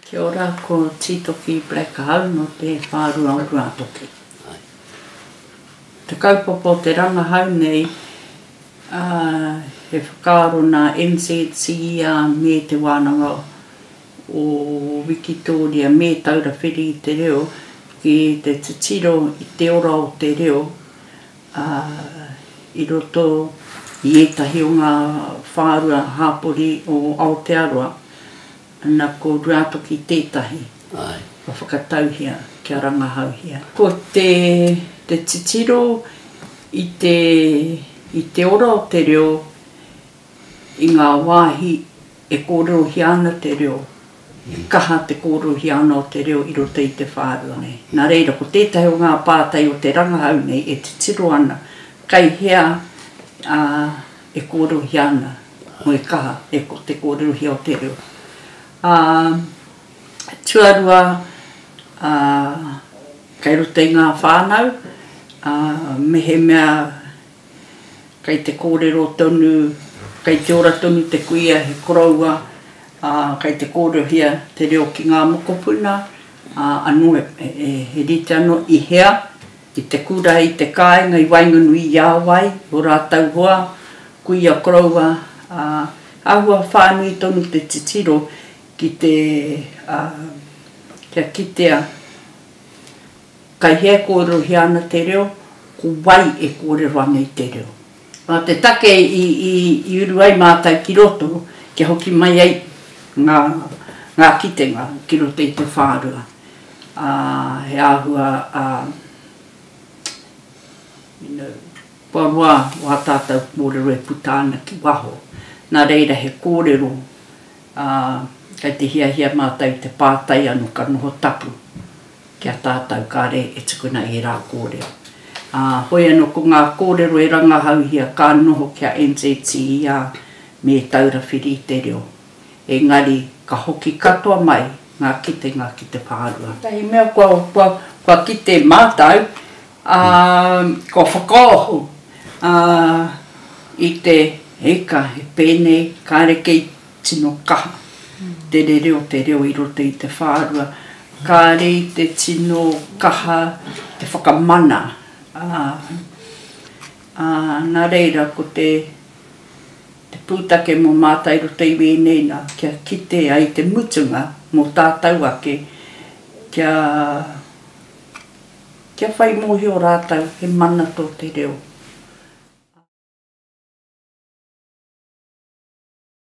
Kia ora, ko Tītoki Black ahau no te whārua o Ruatoki. Te kaupapa o te rangahau nei, he whakaaro nā NZCER me Te Wānanga o Wikitōria me Taura Whiri i te Reo ki te titiro i te ora o te reo i roto i ētahi o ngā whārua hāpori o Aotearoa. Ana ko Ruatoki tētahi ka whakatauhia kia rangahauhia. Ko te titiro i te ora o te reo i ngā wāhi e kōrerohia ana te reo, he kaha te kōrerohia ana o te reo i roto i te whārua nei. Nā reira, ko tētahi o ngā pātai o te rangahau nei e titiro ana, kei hea e kōrerohia ana, moe kaha, e ko te kōrerohia o te reo. Ā, tuarua, ā, kei roto i ngā whānau, ā, mehemea kei te kōrero tonu, kei te ora tonu te kuia, he koroua, ā, kei te kōrerohia te reo ki ngā mokopuna, ā, anō he rite anō i hea, I te kura i te kāinga i waenganui i a wai, i ō rātou hoa, kuia koroua, ā, āhua whānui tonu te titiro ki te, ā, kia kitea kai hea e kōrerohia ana te reo, ko wai e kōrero ana i te reo. Nā te take i uru ai mātou ki roto kia hoki mai ai ngā kitenga ki roto i te whārua, ā, he āhua, ā, you know, kua roa wā tātou kōrero e puta ana ki waho. Nā reira he kōrero, ā, kei te hiahia mātou i te pātai anō ka noho tapu. Ki a tātau kāre e tukuna ērā kōrero. Ā, hoi anō ko ngā kōrero e rangahauhia ka noho ki a NZTER me Taura Whiri i te Reo. Engari, ka hoki katoa mai ngā kitenga ki te whārua. Tētahi mea kua kite mātau, ā, kua whakaoho, ā, i te, hei ka, he pēnei, kāre kei Tino kaha te rere o te reo i roto i te whārua. Kāre i te tino kaha te whakamana, ā, ā, nā reira ko te, te pūtake mō mātau i roto i wēnei nā, kia kite ai te mutunga mō tātau ake, kia, kia whai mōhio rātau he mana tō te reo.